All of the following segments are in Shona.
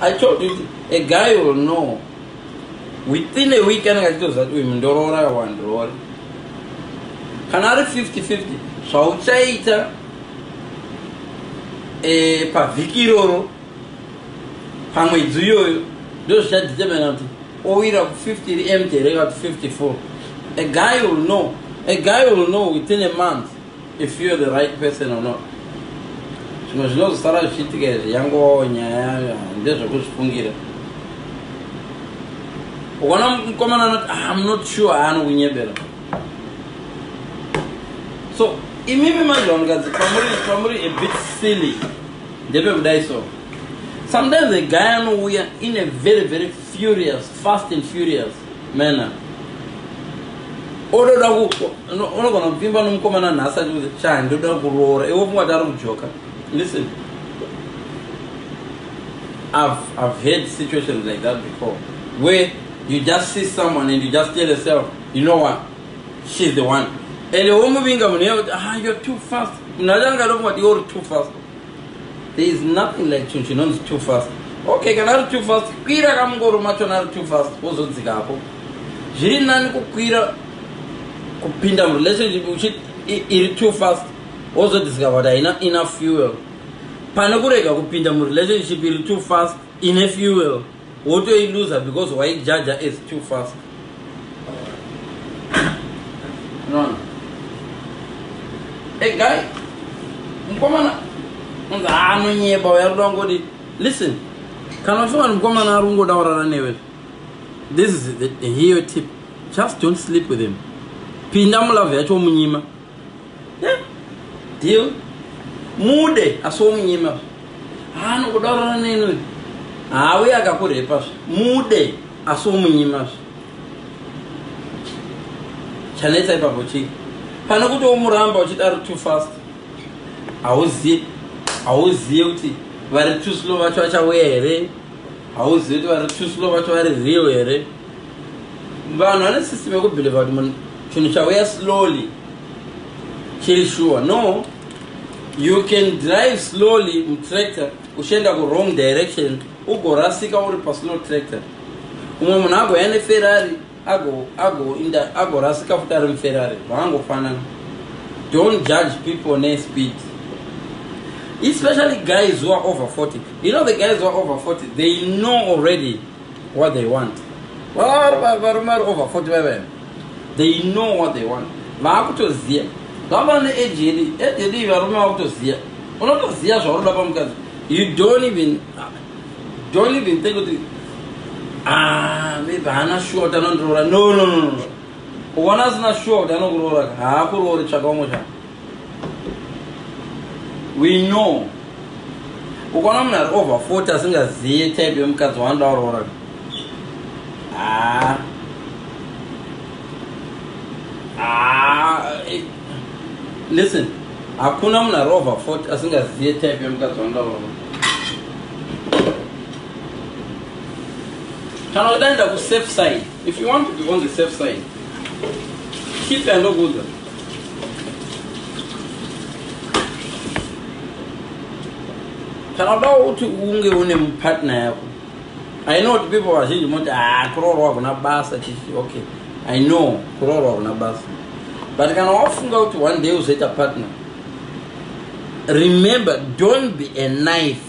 I told you, a guy will know within a week anenge achitoziva kuti uyu mundoroora kana wandiroori kana ari 50 50 zvauchaita e, pavhiki iroro pamwedzi iyoyo ndozvichadetemena kuti owira ku 50 ri empty here ka kuti 54 a guy will know a guy will know within a month if you're the right person or not zvimwe zvinozosara zvichiitika izvi yangovawo nyaya ndezvekuzvifungira ukaona mukomana anoti ah, im not sure aanokunyebera so imimi manje vanhukadzi pamuri pamuri a bit silly ndepekudai so sometimes a guy anouya in a very very furious fast and furious mena ododa unogona kupfimba nomukomana nhasi achiuza chani ndoda kuroora iwe pfungwa tari kujoka listen I've, I've had situations like that before where you just see someone and you just tell yourself you know what she's the one and womuvinga munhu yekuti ah you're too fast munhu achanga adofunga kuti you're too fast there is nothing like chinhu chinonzi too fast okay kana ari too fast kwira kamungoro machona ari too fast wozodzika apo zviri nani kukwira kupinda murelationship uchit iri too fast wozodiscover kuti haina enough fuel pane kurega kupinda murelationship iri too fast ine fuel wotoiluza because waijaja as too fast nono hey guy mukomana anonyeba uya rudo wangoti listen kana uchivani mukomana ari kungoda kurara newe this is the, the hero tip just don't sleep with him pinda mulove yacho munyima deal mude asi womunyima zve haanongoda kurara neni uyu hauye akakurepa zve mude asi womunyima zve chanetsa ipapo chii pane kuti womuramba uchidaro too fast hauzive hauzive kuti vari too slow vacho vachauya here hauzive kuti vari too slow vacho vari real here vanhu vane system yekubhilivha kuti munhu chinhu chauya slowly chiri shuwa no you can drive slowly mutractor uchienda kuwrong direction ugorasika uri paslow tractor umwe munhu agoya neferrari agorasika futi ari muferrari vangofanana don't judge people nespeed especially guys who are over 40 you know the guys who are over 40 they know already what they want varume vari over 40 vaivaena they know what they want vaakutoziva vava neage yedu age yedu iyi varume vakutoziva unotoziva zvaunoda pamukadzi you don't even don't even think kuti ah, maybe haana shuwa kuti anondiroora no no no ukaona asina shuwa kuti anokuroora haakuroori tsvaka umwe zvaa we know ukaona munhu ari over 40 asingazive type yemukadzi wanoda kuroora ah. ah. Eh, listen hakuna munhu ari over 40 asingazive type yemukadzi wanoda kuroora kana kudaenda kusafe side if you want to be on the safe side keep andokuudza kana udawo kuti unge une mupartner yako i know kuti people vazhinji moti haa ah, kuroorwa kuna basa chichi okay i know kuroorwa kuna basa but kana wafunga kuti one day uzoita partner remember don't be a knife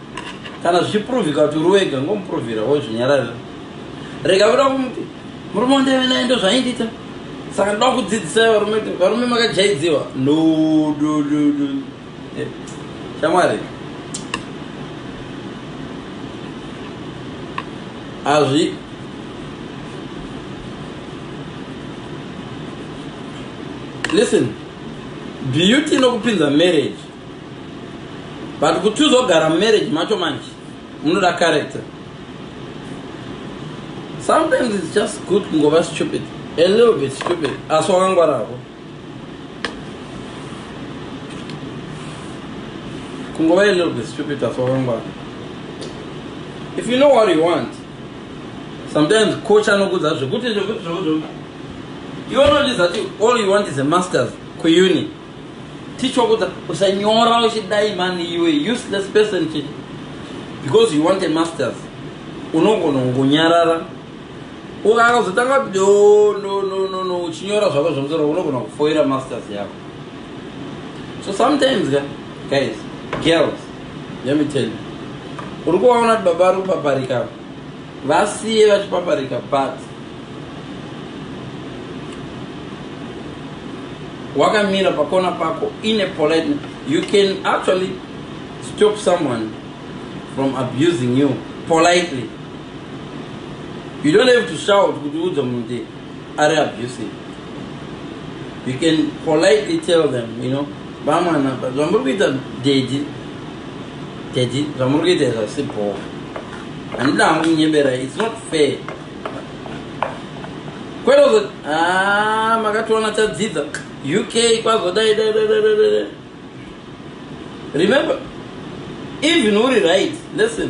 kana zvichiprovhika kuti uri wega ngomuprovhira wozvinyararira rega kuda kumuti murume wandaive naye ndo zvaindiita saka ndoda kudzidzisai varume kuti varume makajaidziwa no no no no eh, shamwari azvi listen beauty inokupinza marriage but kuti uzogara mumarriage macho manje unoda character sometimes its just good kungova stupid a little bit stupid asi wakangwaravo kungova a little bit stupid asi wakangwara if you know what you want sometimes coach anokudza zvekuti zvekuti zvekuti iwe unondiza ti all you want is a masters kuuni tichokudza usanyora uchidai mani iwe useless person chete because you want a masters unogona kungonyarara ukazotanga kuti oh, no no no no uchinyora zvako zvemusoro unogona kufoira masters yako so sometimes ka guys girls let me tell you uri kuvaona kuti baba ari kupaparika vasiye vachipaparika but wakamira pakona pako in a polite you can actually stop someone from abusing you politely you don't have to shout kuti udza munhu kuti ari abusive you can politely tell them you know vamwana zvamuri kuita dedi dedi zvamuri kuita izvasi bhoo handina hangu kunyebera its not fair kwerozo ah, makatoona tadzidza uk kwazodai remember even uri right listen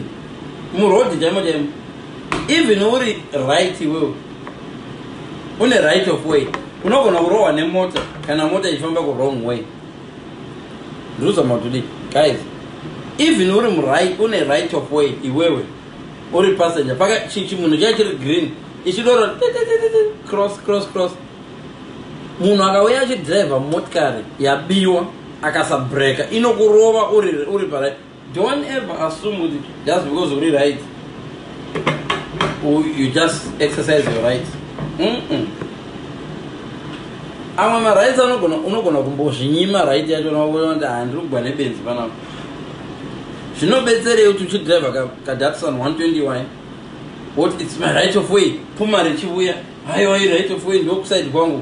murodi chaimo chaimo even uri right iwewe une right of way unogona kurohwa nemota kana mota ichifamba kurong way ndinozama kuti guys even uri murit une right of way iwewe uri passenger paka chimunhu chai chiri green ichidoro cross cross cross munhu akauya achidriver motikari yabiwa akasabreka inokurova uri, uri parit Don't ever assume kuti just because uri right you just exercise your rights. Mm -mm. Amwe ma rights anogona unogona kumbozvinyima right yacho unoona kuti handiri kugwa nebenzi panapa. Zvinobetserei kuti uchidriver ka, ka Datsun 120y what it's my right of way pfuma richivuya haiwa iri right of way ndokusaidi kwangu